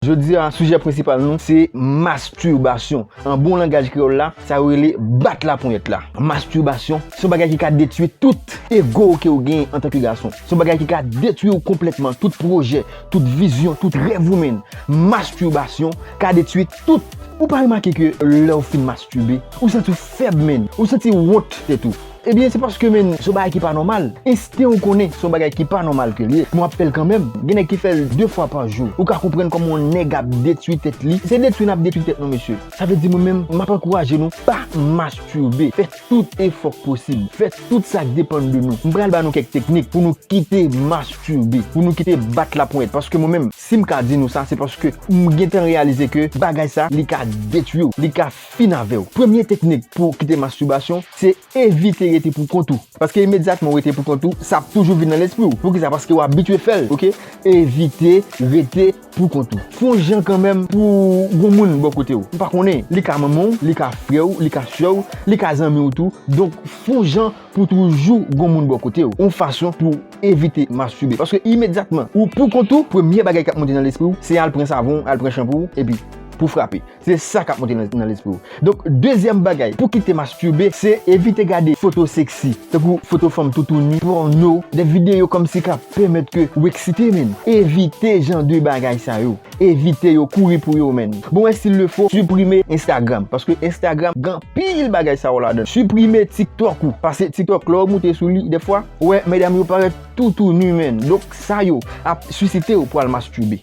Jodi a, sijè prensipal nou se masturbasyon. An bon langaj kreyòl la, sa yo rele bat laponyèt la. Masturbasyon se yon bagay ki ka detui tout ego w ke ou genyen antanke gason. Se yon bagay ki ka detui ou konplètman, tout pwojè, tout vizyon, tout rèv ou menn. Masturbasyon ka detui tout. Ou pa remake ke lè ou fin masturbe, ou santi ou fèb menn, ou santi wont tèt ou. Ebyen se paske men son bagay ki pa nòmal, ensten ou konnen son bagay ki pa nòmal ke l ye, men w ap fè l kanmèm, gen nèg ki fè l 2 fwa pa jou, ou ka konprann kòman yon nèg ap detwi tèt li, se detwi n ap detwi tèt nou mesye, sa vle di mwen menm m ap ankouraje nou pa masturbe, fè tout efò k posib, fè tout sa k depann de nou, m pral ba nou kèk teknik pou nou kite masturbe, pou nou kite bat laponyèt, paske mwen menm si m ka di nou sa se paske m gentan reyalize ke bagay sa li ka detwi w, li ka. Fin avèw. Premye teknik pou kite masturbasyon se evite rete pou kont ou. Paske imedyatman ou rete pou kont ou, sa ap toujou vin nan lespri ou. Poukisa? Paske ou abitye fèl ok. Evite rete pou kont ou. Fon jan kanmenm pou gon moun bò kotew. Ou pa konnen, li ka manmanw, li ka frèw, li ka sèw, li ka zanmiw tou. Donk fon jan pou toujou gon moun bò kotew. Yon fason pou evite masturbe. Paske imedyatman ou pou kont ou, premye bagay kap monte nan lespriw se al pran savon, al pran chanpou epi pou frape. Se sa kap monte nan lespri w. Donk dezyèm bagay pou kite masturbe se evite gade foto sexy, tankou foto fanm toutouni, pòno, de videyo kòmsi kap pèmèt ke ou eksite menn. Evite jan de bagay sa yo. Evite yo, kouri pou yo menn. Bon wè sil le fo, siprime Instagram, paske Instagram gen anpil bagay sa yo ladann. Siprime TikTok ou, pase TikTok lè w moute sou li dèfwa, ou wè medam yo parèt toutouni menn. Donk sa yo ap sisite w pou al masturbe.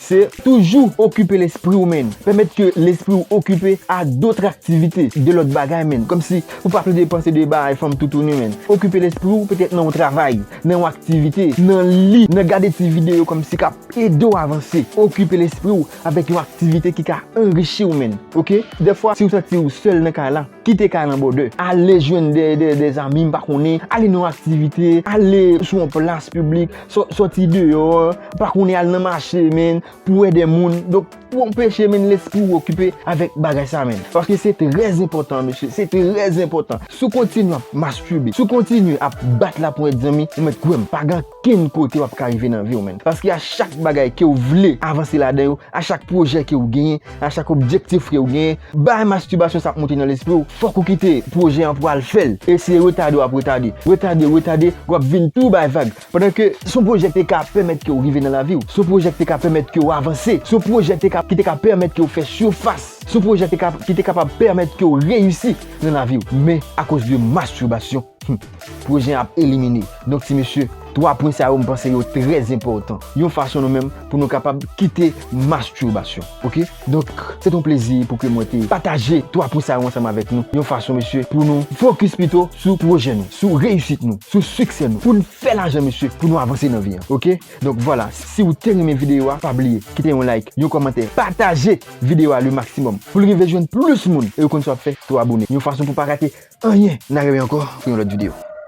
Se toujou okipe lespriw menn, pèmèt ke lespriw okipe a dotr aktivite, de lòt bagay menn, kòmsi ou pa plede panse de bagay fanm toutouni menn, okipe lespriw petèt nan yon travay, nan yon aktivite, nan li, nan gade ti videyo kòmsi kap edew avanse, okipe lespriw avèk yon aktivite ki ka anrichiw menn ok, dèfwa siw santiw sèl nan kay la, Kite kay lan bòdè. Ale jwenn de zanmi m pa konnen. Ale nan yon aktivite. Ale sou yon plas piblik. Soti deyò. Pa konnen al nan mache men. Pou wè de moun. Donk pou anpeche men lespri ou okipe avèk bagay sa men. Paske se trè enpòtan mesye. Se trè enpòtan. Si w kontinye ap masturbate. Si w kontinye ap bat la ponyèt zanmi. Ou mèt kwè m. Pa gen. Ken kote wap ka rive nan viw menn paske a chak bagay kew vle avanse ladan yo a chak pwojè kew genyen a chak objektif kew genyen bay mastibasyon sa ap monte nan lespriw fòk ou kite pwojè an pou al fèl e se retade wap retade retade retade wap vin tou bay vag pandan ke son pwojè ki te ka pèmèt kew rive nan laviw son pwojè ki te ka pèmèt kew avanse son pwojè ki te ka ki te ka pèmèt kew fè sifas son pwojè ki te kapab pèmèt kew reyisi nan laviw men akoz de mastibasyon humm. Pwojè an ap elimine. Donk ti mesye, 3 pwen sa yo m panse yo trè enpòtan. Yon fason nou menm pou nou kapab kite masturbasyon. Ok? Donk, se te yon plezi pou ke mwen te pataje 3 pwen sa yo ansanm avèk nou. Yon fason mesye pou nou fokis pito sou pwojè nou, sou reyisit nou, sou siksè nou. Pou n fè lajan mesye, pou nou avanse nan vi an. Ok? Donk vwala, si ou te renmen videyo a, pa bliye kite yon like, yon kòmantè, pataje! video a le maximum poul rive jwenn plus moun e yo konn sa wap fè tou abone yon fason pou pa rate anyen na remen ankò pou yon lòt video.